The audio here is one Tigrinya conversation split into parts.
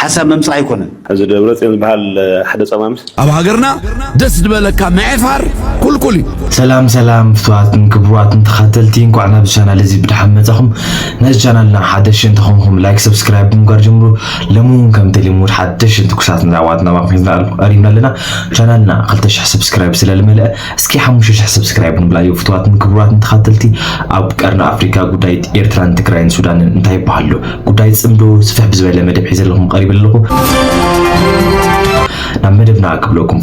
ሓሳብ ምምጻእ ኣይኮነን። እዚ ደብረጽዮን ዝበሃል ሓደ ጸማምስ ኣብ ሃገርና ደስ ዝበለካ ምዔፋር ኩልኩል እዩ። ሰላም ሰላም ፍትዋትን ክብርዋትን ተኻተልቲ እንኳዕ ናብ ቻናል እዚ ብድሓን መጻኹም ነዚ ቻናልና ሓደሽ እንተኾንኩም ላይክ ሰብስክራይብ ብምግባር ጀምሩ ሎሚ እውን ከምቲ ልሙድ ሓደሽን ትኩሳትን ዛዕባታት ናባኹም ሒዝና ቀሪብና ኣለና ቻናልና 2000 ሰብስክራይብ ስለልመልአ እስኪ ሓሙሽተ ሽሕ ሰብስክራይብ ንብላዮ ፍትዋትን ክቡራትን ተኸተልቲ ኣብ ቀርኒ ኣፍሪካ ጉዳይ ኤርትራን ትግራይን ሱዳንን እንታይ ይበሃሉ ጉዳይ ፅምዶ ስፍሕ ብዝበለ መደብ ሒዘለኹም ቀሪብ ኣለኹ ናብ መደብና ክብለኩም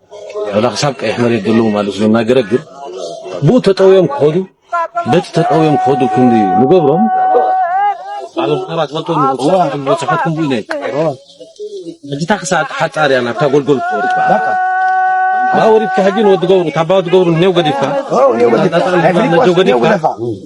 ወላ ክሳብ ቀይሕ መሬት ዘለዉ ማለት ነው እና ገረግር ብኡ ተጠውዮም ክኸዱ በቲ ተጠውዮም ክኸዱ ክንዲ ንገብሮም ኣብ ምዕራት ወጥቶ ንበፅሐት ክንዲ ኢለ እጅታ ክሳብ ሓፃር እያ ናብታ ጎልጎል ክወርድ በቃ Awuri tahajin wad gawru tabaw gawru new gadifka. Oh new gadifka. New gadifka.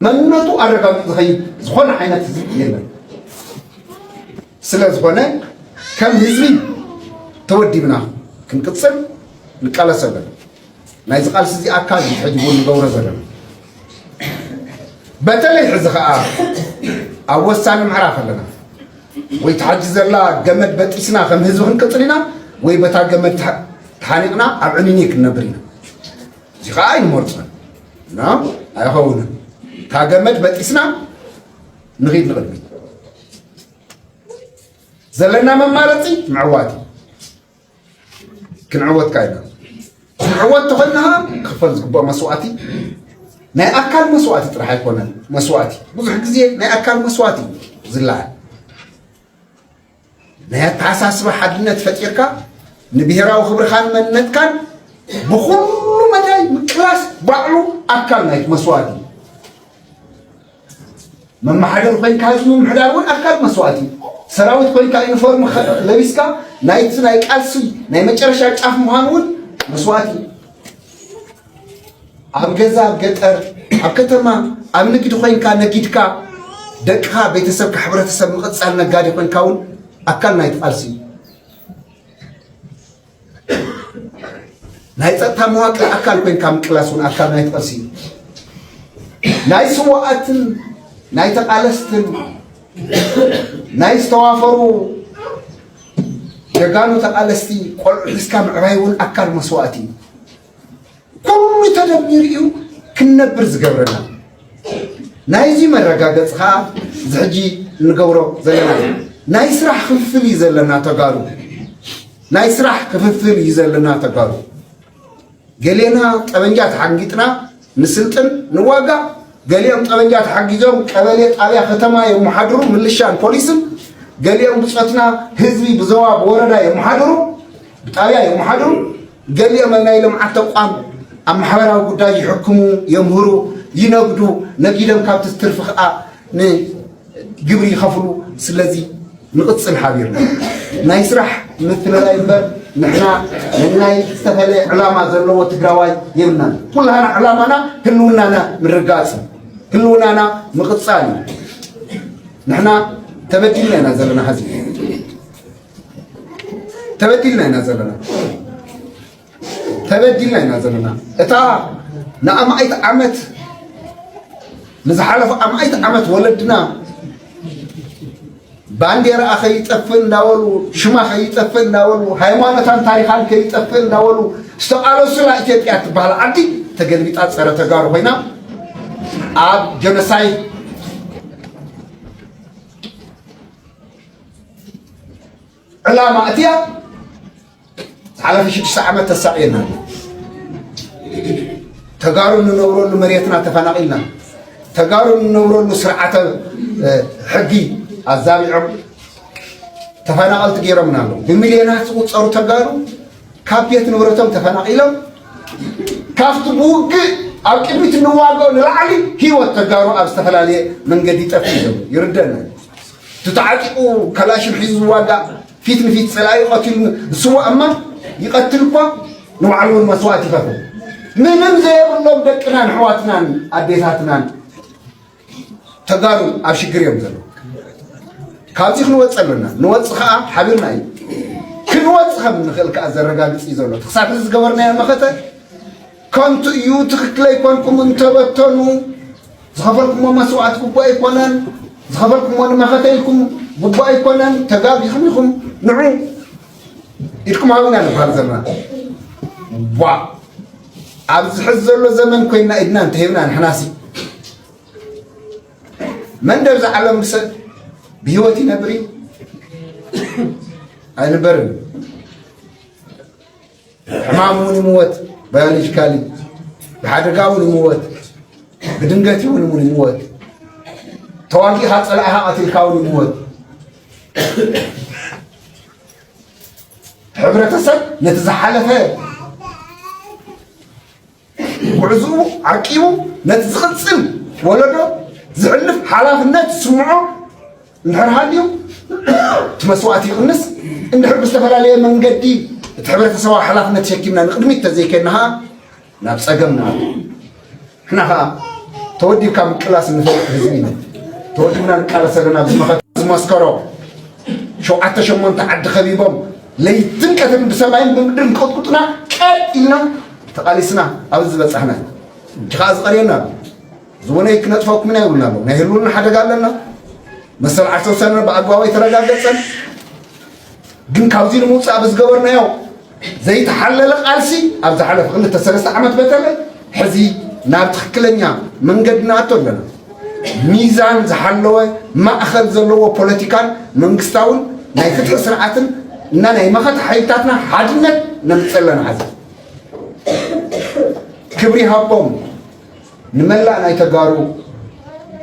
መንነቱ ኣረጋግጡ ዝኸይድ ዝኾነ ዓይነት ህዝቢ የለን። ስለ ዝኾነ ከም ህዝቢ ተወዲብና ክንቅፅል ንቃለስ ኣለና። ናይዚ ቃልሲ እዚ ኣካል ሕጂ እውን ንገብሮ ዘለና በተለይ ሕዚ ከዓ ኣብ ወሳኒ ምዕራፍ ኣለና። ወይ ትሓጂ ዘላ ገመድ በጢስና ከም ህዝቢ ክንቅፅል ኢና ወይ በታ ገመድ ተሓኒቕና ኣብ ዕንይንይ ክንነብር ኢና እዚ ከዓ ኣይንመርፆን እና ኣይኸውንን ካብ ገመድ በጢስና ንኺድ ንቕድሚት ዘለና መማረፂ ምዕዋት እዩ ክንዕወትካ ኢና ክንዕወት ተኾይና ክኽፈል ዝግብኦ መስዋእቲ ናይ ኣካል መስዋእቲ ጥራሕ ኣይኮነን መስዋእቲ ብዙሕ ግዜ ናይ ኣካል መስዋእቲ እዩ ዝለዓል ናይ ኣተሓሳስባ ሓድነት ፈጢርካ ንብሄራዊ ክብርኻን መንነትካን ብኩሉ መዳይ ምቅላስ ባዕሉ ኣካል ናይቲ መስዋእቲ እዩ መመሓደሪ ኮይንካ ህዝቢ ምምሕዳር እውን ኣካል መስዋእቲ እዩ። ሰራዊት ኮይንካ ዩኒፎርም ለቢስካ ናይቲ ናይ ቃልሲ ናይ መጨረሻ ጫፍ ምዃን እውን መስዋእቲ እዩ። ኣብ ገዛ ኣብ ገጠር ኣብ ከተማ ኣብ ንግዲ ኮይንካ ነጊድካ ደቅኻ ቤተሰብካ ሕብረተሰብ ምቕፃል ነጋዴ ኮይንካ እውን ኣካል ናይቲ ቃልሲ እዩ። ናይ ፀጥታ መዋቅር ኣካል ኮይንካ ምቅላስ እውን ኣካል ናይቲ ቐልሲ እዩ ናይ ስዋኣትን ናይ ተቓለስትን ናይ ዝተዋፈሩ ጀጋኑ ተቓለስቲ ቆልዑ ሒዝካ ምዕባይ እውን ኣካል መስዋእቲ እዩ ኩሉ ተደሚሩ እዩ ክንነብር ዝገብረና ናይዚ መረጋገፂ ከዓ እዚ ሕጂ እንገብሮ ዘለና ናይ ስራሕ ክፍፍል እዩ ዘለና ተጋሩ ናይ ስራሕ ክፍፍል እዩ ዘለና ተጋሩ ገሌና ጠበንጃ ተሓንጊጥና ንስልጥን ንዋጋእ ገሊኦም ጠበንጃ ተሓጊዞም ቀበሌ ጣብያ ከተማ የመሓድሩ ምልሻን ፖሊስን ገሊኦም ብፆትና ህዝቢ ብዘዋ ብወረዳ የመሓድሩ ብጣብያ የመሓድሩ ገሊኦም ኣብ ናይ ልምዓት ተቋም ኣብ ማሕበራዊ ጉዳይ ይሕክሙ፣ የምህሩ፣ ይነግዱ፣ ነጊዶም ካብቲ ዝትርፊ ከዓ ንግብሪ ይኸፍሉ። ስለዚ ንቕፅል ሓቢርና ናይ ስራሕ ምትልላይ እምበር ንሕና ንናይ ዝተፈለየ ዕላማ ዘለዎ ትግራዋይ የብልናን። ኩላና ዕላማና ህልውናና ምርጋፅ እዩ፣ ህልውናና ምቕፃል እዩ። ንሕና ተበዲልና ኢና ዘለና ሀዚ ተበዲልና ኢና ዘለና ተበዲልና ኢና ዘለና እታ ንኣማኢት ዓመት ንዝሓለፉ ኣማኢት ዓመት ወለድና ባንዴራኣ ከይጠፍእ እንዳበሉ ሽማ ከይጠፍእ እንዳበሉ ሃይማኖታን ታሪኻን ከይጠፍእ እንዳበሉ ዝተቃለሱላ ኢትዮጵያ ትበሃል ዓዲ ተገልቢጣ ፀረ ተጋሩ ኮይና ኣብ ጀኖሳይድ ዕላማ እቲያ ዝሓለፈ ሽዱሽተ ዓመት ተሳቂየና ተጋሩ እንነብረሉ መሬትና ተፈናቂልና ተጋሩ እንነብረሉ ስርዓተ ሕጊ ኣዛቢዖም ተፈናቀልቲ ገይሮምና ኣሎ ብሚልዮናት ዝቁፀሩ ተጋሩ ካብ ቤት ንብረቶም ተፈናቂሎም ካብቲ ብውግእ ኣብ ቅድሚት እንዋገኦ ንላዕሊ ሂወት ተጋሩ ኣብ ዝተፈላለየ መንገዲ ጠፊኡ ይርደና እቲ ተዓጢቑ ካላሽን ሒዙ ዝዋጋእ ፊት ንፊት ፀላኢኡ ቐቲሉ ዝስዋእ እማ ይቐትል እኳ ንባዕሉ እውን መስዋእቲ ይኸፍል። ምንም ዘየብሎም ደቅናን ኣሕዋትናን ኣዴታትናን ተጋሩ ኣብ ሽግር እዮም ዘለዉ። ካብዚ ክንወፅእ ኣለና። ንወፅ ከዓ ሓቢርና እዩ ክንወፅ ከም እንኽእል ከዓ ዘረጋግፅ እዩ ዘሎ። ክሳብ እዚ ዝገበርናዮ መኸተ ከንቱ እዩ፣ ትኽክል ኣይኮንኩም እንተበተኑ ዝኸፈልኩሞ መስዋእቲ ግቡእ ኣይኮነን፣ ዝኸፈልኩሞ ንመኸተ ኢልኩም ግቡእ ኣይኮነን፣ ተጋጊኹም ኢኹም፣ ንዑ ኢድኩም ሃቡና ንብሃል ዘለና። ቧእ ኣብዚ ሕዚ ዘሎ ዘመን ኮይና ኢድና እንተሂብና ንሕናሲ መን ደብ ዝዓለም ብሰብ ብህይወት ይነብር እዩ ኣይንበርን ሕማም እውን ይምወት ባዮሎጂካሊ ብሓደጋ እውን ይምወት ብድንገት እውን እውን ይምወት ተዋጊኻ ፀላእኻ ቀትልካ እውን ይምወት ሕብረተሰብ ነቲ ዝሓለፈ ጉዕዝኡ ዓቂቡ ነቲ ዝቕጽል ወለዶ ዝሕልፍ ሓላፍነት ዝስምዖ እንድሕር ሃልዩ እቲ መስዋእቲ ይቕንስ እንድሕር ብዝተፈላለየ መንገዲ እቲ ሕብረተሰባዊ ሓላፍነት ተሸኪምና ንቕድሚት ተዘይከድና ኸዓ ናብ ጸገም ንኣቱ ንሕና ኸዓ ተወዲብካ ምቅላስ እንፈልጥ ህዝቢ ኢና ተወዲብና ንቃለስ ኣለና ኣብዚ መኸት ዝመስከሮ ሸውዓተ ሸሞንተ ዓዲ ከቢቦም ለይትን ቀትርን ብሰማይን ብምድርን ክቕጥቁጡና ቀጥ ኢልና ተቓሊስና ኣብዚ ዝበጻሕና ኢና። ሕጂ ከኣ ዝቐርየና ኣሎ። ዝወነይ ክነጥፈኩም ኢና ይብሉና ኣለዉ። ናይ ህልውና ሓደጋ ኣለና። መሰል ዓርሰ ውሳነና ብኣግባቡ ኣይተረጋገጸን። ግን ካብዚ ንምውጻእ ብዝገበርናዮ ዘይተሓለለ ቃልሲ ኣብ ዝሓለፈ ክልተ ሰለስተ ዓመት በተለ ሕዚ ናብ ትክክለኛ መንገዲ ንኣቶ ኣለና። ሚዛን ዝሓለወ ማእኸል ዘለዎ ፖለቲካን መንግስታውን ናይ ፍትሒ ስርዓትን እና ናይ መኸተ ሓይልታትና ሓድነት ነምፅእ ኣለና ሓዚ ክብሪ ሃቦም ንመላእ ናይ ተጋሩ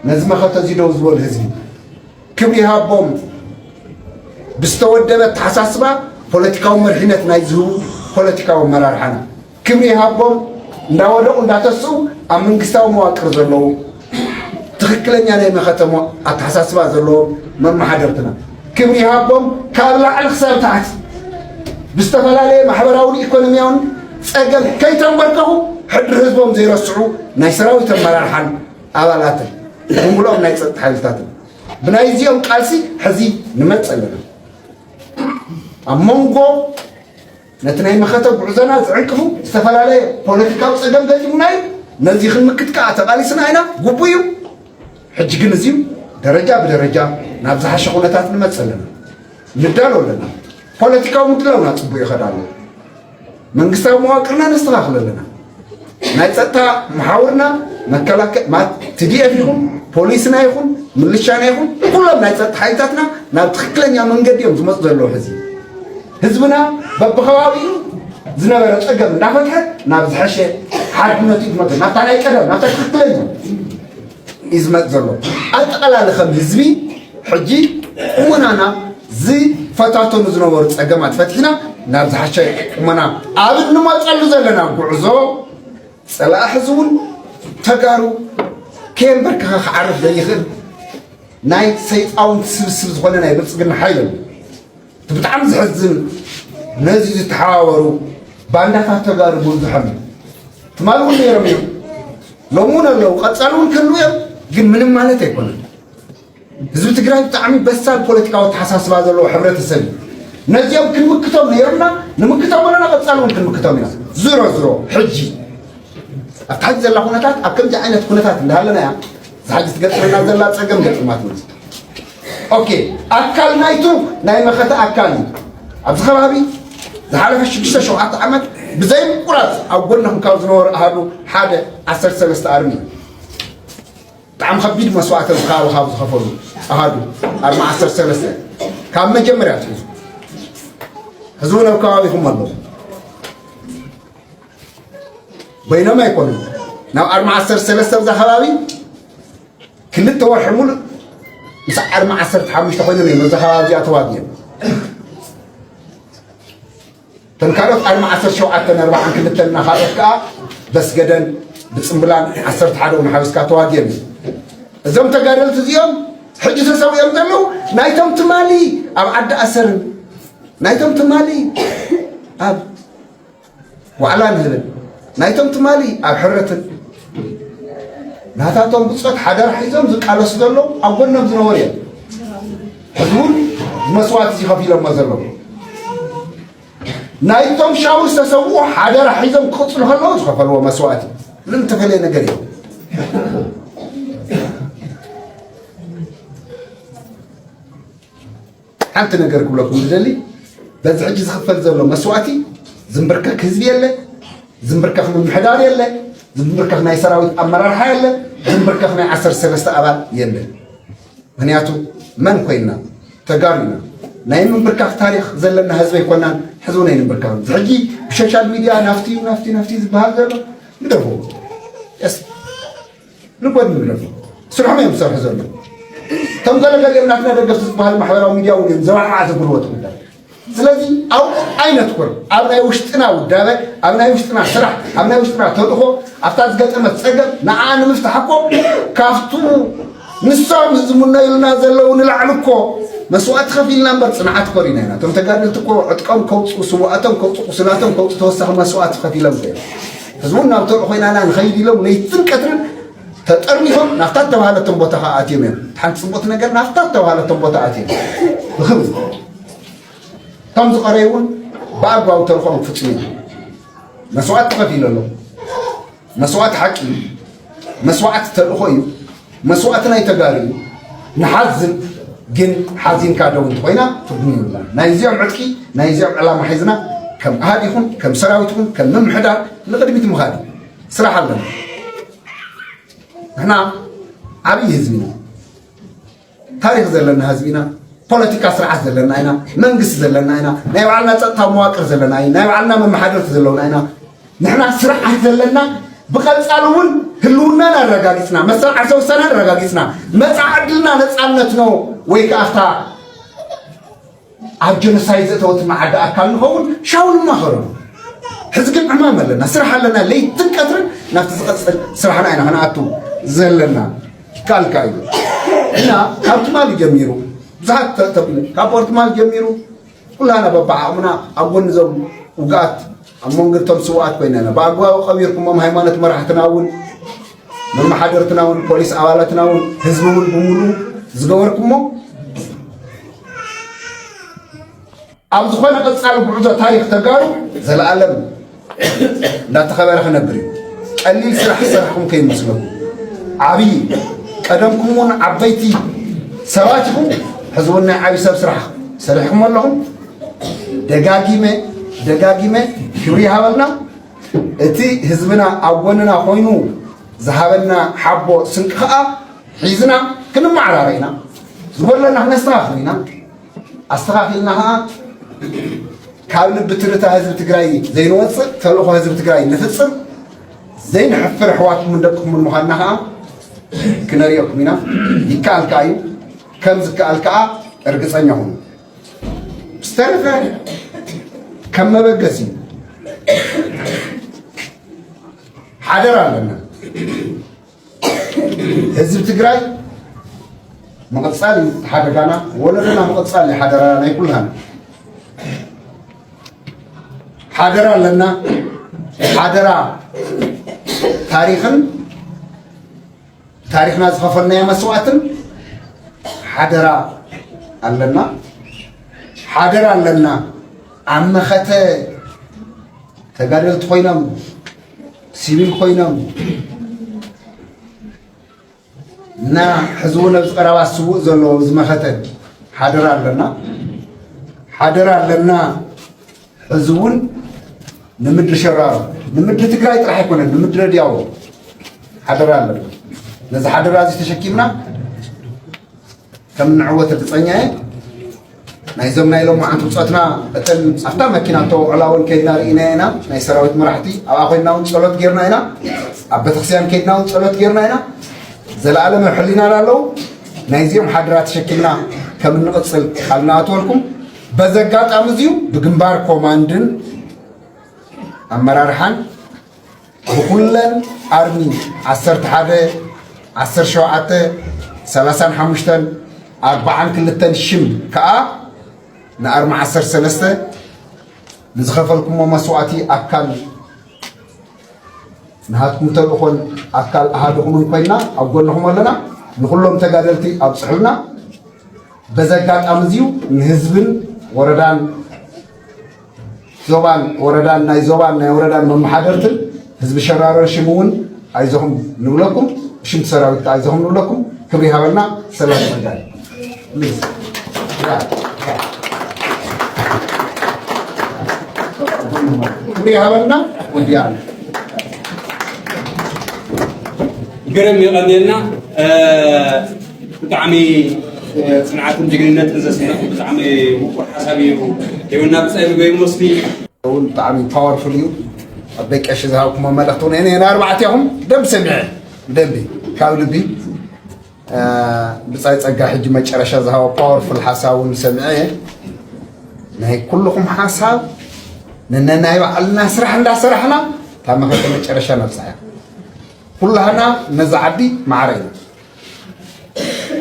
ነዚ መኸተ እዚ ደው ዝበሉ ህዝቢ ክብሪ ሃቦም ብዝተወደበ ኣተሓሳስባ ፖለቲካዊ መሪሕነት ናይ ዝህቡ ፖለቲካዊ ኣመራርሓና ክብሪ ሃቦም እንዳወደቑ እንዳተስኡ ኣብ መንግስታዊ መዋቅር ዘለዉ ትክክለኛ ናይ መኸተሞ ኣተሓሳስባ ዘለዎም መመሓደርትና ክብሪ ይሃቦም ካብ ላዕሊ ክሳብ ታሕቲ ብዝተፈላለየ ማሕበራውን ኢኮኖሚያውን ጸገም ከይተንበርከኹ ሕድሪ ህዝቦም ዘይረስዑ ናይ ሰራዊት ኣመራርሓን ኣባላትን ብምሉኦም ናይ ፀጥታ ሓይልታትን ብናይ እዚኦም ቃልሲ ሕዚ ንመፅ ኣለና ኣብ መንጎ ነቲ ናይ መኸተ ጉዕዞና ዝዕንቅፉ ዝተፈላለየ ፖለቲካዊ ጸገም ገጢሙና እዩ። ነዚ ክንምክት ከኣ ተቓሊስና ኢና፣ ግቡእ እዩ። ሕጂ ግን እዚ ደረጃ ብደረጃ ናብ ዝሓሸ ኩነታት ንመጽእ ኣለና፣ ንዳሎ ኣለና። ፖለቲካዊ ምድላውና ጽቡቕ ይኸድ ኣሎ። መንግስታዊ መዋቅርና ነስተኻኽል ኣለና። ናይ ጸጥታ መሓውርና ትዲኤፍ ይኹን ፖሊስና ይኹን ምልሻና ይኹን ኩሎም ናይ ጸጥታ ሓይልታትና ናብ ትኽክለኛ መንገዲ እዮም ዝመፁ ዘለዉ ሕዚ ህዝብና በብኸባቢኡ ዝነበረ ፀገም እንዳፈትሐ ናብ ዝሐሸ ሓድነቱ ይመፅ ናብታ ናይ ቀደም ናብታ ትክክለኛ እዩ ዝመፅ ዘሎ ኣጠቃላሊ ከም ህዝቢ ሕጂ ቁመናና ዝፈታተኑ ዝነበሩ ፀገማት ፈትሒና ናብ ዝሓሸ ቁመና ኣብ እንመፀሉ ዘለና ጉዕዞ ፀላእ ሕዚ እውን ተጋሩ ከየንበርክኸ ክዓርፍ ዘይኽእል ናይ ሰይጣውንቲ ስብስብ ዝኾነ ናይ ብልፅግና ሓይል እቲ ብጣዕሚ ዘሕዝን ነዚ ዝተሓባበሩ ባንዳታት ተጋሩ ምብዝሖም እዩ። ትማል እውን ነይሮም እዮም፣ ሎሚ እውን ኣለዉ፣ ቀፃሊ እውን ክህልዉ እዮም። ግን ምንም ማለት ኣይኮነን። ህዝቢ ትግራይ ብጣዕሚ በሳል ፖለቲካዊ ኣተሓሳስባ ዘለዎ ሕብረተሰብ እዩ። ነዚኦም ክንምክቶም ነይርና ንምክቶም ኣለና፣ ቀፃሊ እውን ክንምክቶም ኢና። ዝሮ ዝሮ ሕጂ ኣብቲ ሕጂ ዘላ ኩነታት ኣብ ከምዚ ዓይነት ኩነታት እንዳሃለና እያ ዝሓጂ ትገጥመና ዘላ ፀገም ገጥማት ኦኬ ኣካል ናይቱ ናይ መኸተ ኣካል እዩ ኣብዚ ከባቢ ዝሓለፈ ሽዱሽተ ሸውዓተ ዓመት ብዘይ ምቁራፅ ኣብ ጎንኹም ካብ ዝነበሩ ኣሃዱ ሓደ ዓሰርተ ሰለስተ ኣርሚ እዩ ብጣዕሚ ከቢድ መስዋእተ ዝካበ ካብ ዝኸፈሉ ኣሃዱ ኣርማ ዓሰርተ ሰለስተ ካብ መጀመርያ ትሕዙ ሕዚ እውን ኣብ ከባቢኹም ኣለዉ በይኖም ኣይኮኑን ናብ ኣርማ ዓሰርተ ሰለስተ ብዛ ከባቢ ክልተ ወርሒ ሙሉእ ምስ ዓርሚ ዓሰርተ ሓሙሽተ ኮይኖም እዮም እዛ ከባቢ እዚኣ ተዋጊኦም እተን ካልኦት ዓርሚ ዓሰርተ ሸውዓተን ኣርባዓን ክልተን እና ካልኦት ከዓ በስገደን ብፅምብላን ዓሰርተ ሓደ እውን ሓዊስካ ተዋጊኦም እዩ እዞም ተጋደልቲ እዚኦም ሕጂ ተሰዊኦም ዘለዉ ናይቶም ትማሊ ኣብ ዓዲ ኣሰርን ናይቶም ትማሊ ኣብ ዋዕላ ንህብን ናይቶም ትማሊ ኣብ ሕርትን ናታቶም ብፆት ሓደራ ሒዞም ዝቃለሱ ዘለዉ ኣብ ጎኖም ዝነበሩ እዮም ሕዚ እውን መስዋእቲ እዚ ከፊሎሞ ዘለዉ ናይቶም ሻቡ ዝተሰውኡ ሓደራ ሒዞም ክቕፅሉ ከለዉ ዝኸፈልዎ መስዋእቲ ምንም ተፈለየ ነገር እዩ ሓንቲ ነገር ክብለኩም ዝደሊ በዚ ሕጂ ዝኽፈል ዘሎ መስዋእቲ ዝምብርከክ ህዝቢ የለ ዝምብርከክ ምምሕዳር የለ ዝምብርከክ ናይ ሰራዊት ኣመራርሓ የለ ዝምብርከክ ናይ ዓሰርተ ሰለስተ ኣባል የለ ምክንያቱ መን ኮይና ተጋሩ ኢና ናይ ምንብርካኽ ታሪክ ዘለና ህዝቢ ኣይኮናን ሕዚ እውን ኣይንብርካኽ ሕጂ ብሶሻል ሚድያ ናፍቲ ናፍቲ ናፍቲ ዝበሃል ዘሎ ንደርቦ ልቦድ ንብሎም ስርሖም እዮም ዝሰርሑ ዘለዉ ከም ገለ ገሊኦም ናትና ደገፍቲ ዝበሃሉ ማሕበራዊ ሚድያ እውን እዮም ዘባዕባዕ ዘብልዎ እቲ ጉዳይ ስለዚ ኣብኡ ኣይነትኩር ኣብ ናይ ውሽጥና ውዳበ ኣብ ናይ ውሽጥና ስራሕ ኣብ ናይ ውሽጥና ተልእኾ ኣብታ ዝገጠመት ፀገም ንዓ ንምፍታሕ እኮ ካብቱ ንሶም ዝምነዩልና ዘለዉ ንላዕሊ እኮ መስዋእቲ ከፊልና እምበር ፅንዓት ኮሪና ኢና እቶም ተጋደልቲ እኮ ዕጥቀም ከውፅኡ ስዋኣቶም ከውፅኡ ቁስላቶም ከውፅኡ ተወሳኺ መስዋእቲ ከፊሎም እዮም ህዝቡ ናብ ተርዑ ኮይናና ንኸይድ ኢሎም ለይትን ቀትርን ተጠርኒፎም ናብታ እተባሃለቶም ቦታ ከዓ ኣትዮም እዮም እቲ ሓንቲ ፅቡቕቲ ነገር ናብታ እተባሃለቶም ቦታ ኣትዮም ብክብሪ እቶም ዝቐረዩ እውን ብኣግባቡ ተልኮም ክፍፅሙ እዮም መስዋእቲ ተኸፊሉ ኣሎ መስዋእቲ ሓቂ እዩ መስዋዕት ተልእኾ እዩ መስዋእቲ ናይ ተጋሩ እዩ ንሓዝን ግን ሓዚንካ ደው እንተኾይና ትርጉም ይብላን ናይ እዚኦም ዕጥቂ ናይ እዚኦም ዕላማ ሒዝና ከም ኣሃድ ይኹን ከም ሰራዊት ይኹን ከም ምምሕዳር ንቅድሚት ምኻድ እዩ ስራሕ ኣለና ንሕና ዓብዪ ህዝቢ ኢና ታሪኽ ዘለና ህዝቢ ኢና፣ ፖለቲካ ስርዓት ዘለና ኢና፣ መንግስቲ ዘለና ኢና፣ ናይ ባዕልና ፀጥታዊ መዋቅር ዘለና ኢና፣ ናይ ባዕልና መመሓደርቲ ዘለውና ኢና። ንሕና ስርዓት ዘለና ብቐፃሊ እውን ህልውናን ኣረጋጊፅና መሰል ዓርሰ ውሳነ ኣረጋጊፅና መፃዕ ዕድልና ነፃነት ነው ወይ ከዓ ኣብ ጀኖሳይድ ዘእተወትና ዓዲ ኣካል ንኸውን ሻው ንማኸረሉ ሕዚ ግን ዕማም ኣለና ስራሕ ኣለና ለይትን ቀትርን ናብቲ ዝቐፅል ስራሕና ኢና ክንኣቱ ዘለና ይከኣልካ እዩ እና ካብ ትማሊ ጀሚሩ ብዙሓት ተብሉ ካብ ወርትማል ጀሚሩ ኩላና በባዓቕምና ኣብ ጎኒ ዞም ውግኣት ኣብ መንጎ እቶም ስውኣት ኮይነ ኢና ብኣግባቡ ቀቢርኩሞም ሃይማኖት መራሕትና እውን መመሓደርትና እውን ፖሊስ ኣባላትና እውን ህዝቢ እውን ብምሉኡ ዝገበርኩሞ ኣብ ዝኾነ ቀፃሊ ጉዕዞ ታሪክ ተጋሩ ዘለኣለም እንዳተኸበረ ክነብር እዩ ቀሊል ስራሕ ዝሰራሕኩም ከይመስለኩም ዓብዪ ቀደምኩም እውን ዓበይቲ ሰባት ኢኹም ሕዚ እውን ናይ ዓብዪ ሰብ ስራሕ ሰሪሕኩም ኣለኹም ደጋጊመ ደጋጊመ ክብሪ ይሃበልና እቲ ህዝብና ኣብ ጎንና ኮይኑ ዝሃበና ሓቦ ስንቂ ከዓ ሒዝና ክንመዓራረ ኢና ዝጎድለና ክነስተኻኽል ኢና ኣስተኻኺልና ከዓ ካብ ልቢ ትርታ ህዝቢ ትግራይ ዘይንወፅእ ተልእኾ ህዝቢ ትግራይ ንፍፅም ዘይንሕፍር ኣሕዋትኩምን ደቅኹምን ምዃንና ከዓ ክነርእየኩም ኢና ይከኣል ከዓ እዩ ከም ዝከኣል ከዓ እርግፀኛ ሁኑ ዝተረፈ ከም መበገሲ ሓደራ ኣለና ህዝቢ ትግራይ ምቕፃል እዩ ሓደጋና ወለዶና ምቕፃል እዩ ሓደራና ናይ ኩልና ሓደራ ኣለና ሓደራ ታሪኽን ታሪኽና ዝኸፈልናዮ መስዋእትን ሓደራ ኣለና ሓደራ ኣለና ኣብ መኸተ ተጋደልቲ ኮይኖም ሲቪል ኮይኖም እና ሕዚ እውን ኣብዚ ቀረባ ስውእ ዘለዎ ዝመኸተ ሓደራ ኣለና ሓደራ ኣለና ሕዚ እውን ንምድሪ ሸራሮ ንምድሪ ትግራይ ጥራሕ ኣይኮነን ንምድሪ ረድያዎ ሓደራ ኣለና ነዚ ሓደራ እዚ ተሸኪምና ከም ንዕወት እርግፀኛ እየ ናይዞም ናይ ሎም መዓንቲ ብፆትና እተን ኣብታ መኪና ተወዕላ እውን ከይድና ርኢና ኢና ናይ ሰራዊት መራሕቲ ኣብኣ ኮይና እውን ፀሎት ጌርና ኢና ኣብ ቤተክርስትያን ከይድና እውን ፀሎት ጌርና ኢና ዘለኣለም ኣብ ሕሊናና ኣለዉ ናይዚኦም ሓደራ ተሸኪምና ከም እንቕፅል ቃል ንኣትወልኩም በዚ ኣጋጣሚ እዚዩ ብግንባር ኮማንድን ኣመራርሓን ብኩለን ኣርሚ ዓሰርተ ሓደ ዓሰርተ ሸውዓተ ሰላሳን ሓሙሽተን ኣርባዓን ክልተን ሽም ከዓ ንኣርሚ ዓሰርተ ሰለስተ ንዝኸፈልኩሞ መስዋእቲ ኣካል ንሃትኩም ተልእኾን ኣካል ኣሃድኹምን ኮይና ኣብ ጎንኹም ኣለና ንኹሎም ተጋደልቲ ኣብፅሑልና በዚ ኣጋጣሚ እዚ ንህዝብን ወረዳን ዞባን ወረዳን ናይ ዞባን ናይ ወረዳን መመሓደርትን ህዝቢ ሸራሮ ሽም እውን ኣይዞኹም ንብለኩም ሽምቲ ሰራዊት ከዓ ኣይዞኹም ንብለኩም ክብሪ ሃበልና ሰላም መጋል ክብሪ ሃበልና ወዲያ ግርም የቐንየልና ብጣዕሚ ጽንዓትን ጅግንነትን ዘስንቕ ብጣዕሚ ምቁር ሓሳብ እዩ ሂቡና ብጻይ ብገይሙ ወስኒ እውን ብጣዕሚ ፓወርፉል እዩ ኣብ ደቂ ቀሺ ዝሃብኩሞ መልእኽቲ እውን እኔ ንኣርባዕቲኹም ደንብ ሰሚዐ ደንቢ ካብ ልቢ ብፃይ ፀጋ ሕጂ መጨረሻ ዝሃቦ ፓወርፉል ሓሳብ እውን ሰሚዐ እየ ናይ ኩልኹም ሓሳብ ንነናይ ባዕልና ስራሕ እንዳሰራሕና እታ መኸተ መጨረሻ ነብፅሐ ኩላህና ነዚ ዓዲ ማዕረ እዩ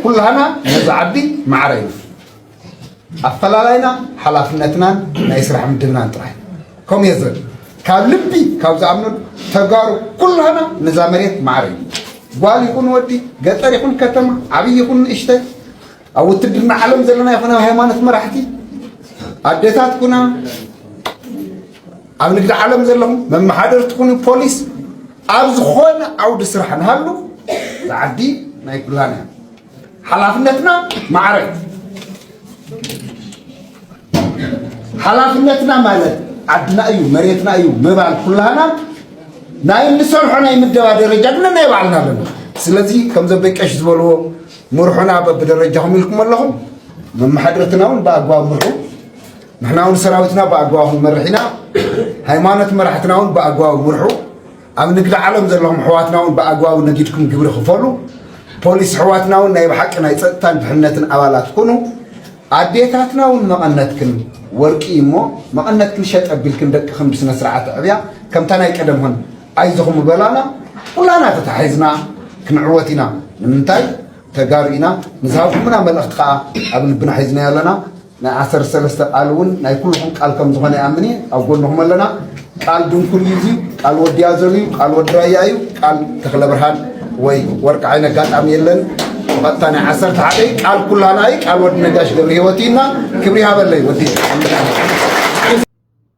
ኩላህና ነዚ ዓዲ ማዕረ ኢና ኣፈላላይና ሓላፍነትናን ናይ ስራሕ ምድብናን ጥራይ ከምኡ እየ ዝብል ካብ ልቢ ካብ ዝኣምነሉ ተጋሩ ኩላህና ነዛ መሬት ማዕረ ኢና ጓል ይኹን ወዲ ገጠር ይኹን ከተማ ዓብይ ይኹን ንእሽተይ ኣብ ውትድርና ዓለም ዘለና ይኹን ኣብ ሃይማኖት መራሕቲ ኣዴታት ኩና ኣብ ንግዲ ዓለም ዘለኹም መመሓደርቲ ኩኑ ፖሊስ ኣብ ዝኾነ ዓውዲ ስራሕ ንሃሉ እዛ ዓዲ ናይ ኩላና እያ ሓላፍነትና ማዕረ ሓላፍነትና ማለት ዓድና እዩ መሬትና እዩ ምባል ኩላህና ናይ እንሰርሖ ናይ ምደባ ደረጃ ግን ናይ ባዕልና ኣለና ስለዚ ከምዞም ደቀሽ ዝበልዎ ምርሑና በብደረጃኹም ኢልኩም ኣለኹም መመሓደርትና እውን ብኣግባብ ምርሑ ንሕና እውን ሰራዊትና ብኣግባብ ክንመርሕ ኢና ሃይማኖት መራሕትና እውን ብኣግባቡ ምርሑ ኣብ ንግዲ ዓለም ዘለኹም ኣሕዋትና እውን ብኣግባቡ ነጊድኩም ግብሪ ክፈሉ ፖሊስ ኣሕዋትና እውን ናይ ብሓቂ ናይ ፀጥታን ድሕነትን ኣባላት ኩኑ ኣዴታትና እውን መቐነትክን ወርቂ እዩ እሞ መቐነትክን ሸጥ ኣቢልክን ደቅኽን ብስነ ስርዓት ኣዕብያ ከምታ ናይ ቀደም ሆን ኣይዞኹም ምበላና ኩላና ተታሒዝና ክንዕወት ኢና ንምንታይ ተጋሩ ኢና ንዝሃብኩምና መልእኽቲ ከዓ ኣብ ልብና ሒዝናዮ ኣለና ናይ ዓሰርተ ሰለስተ ቃል እውን ናይ ኩልኹም ቃል ከም ዝኾነ ይኣምን እየ ኣብ ጎንኹም ኣለና ቃል ድንኩል እዩ እዚ ቃል ወዲ ኣዘሉ እዩ ቃል ወዲ ራያ እዩ ቃል ተኽለ ብርሃን ወይ ወርቂ ዓይነ ኣጋጣሚ የለን ብቐጥታ ናይ ዓሰርተ ሓደ ቃል ኩላና እዩ ቃል ወዲ ነጋሽ ገብረ ህይወት እዩና ክብሪ ሃበለይ ወዲ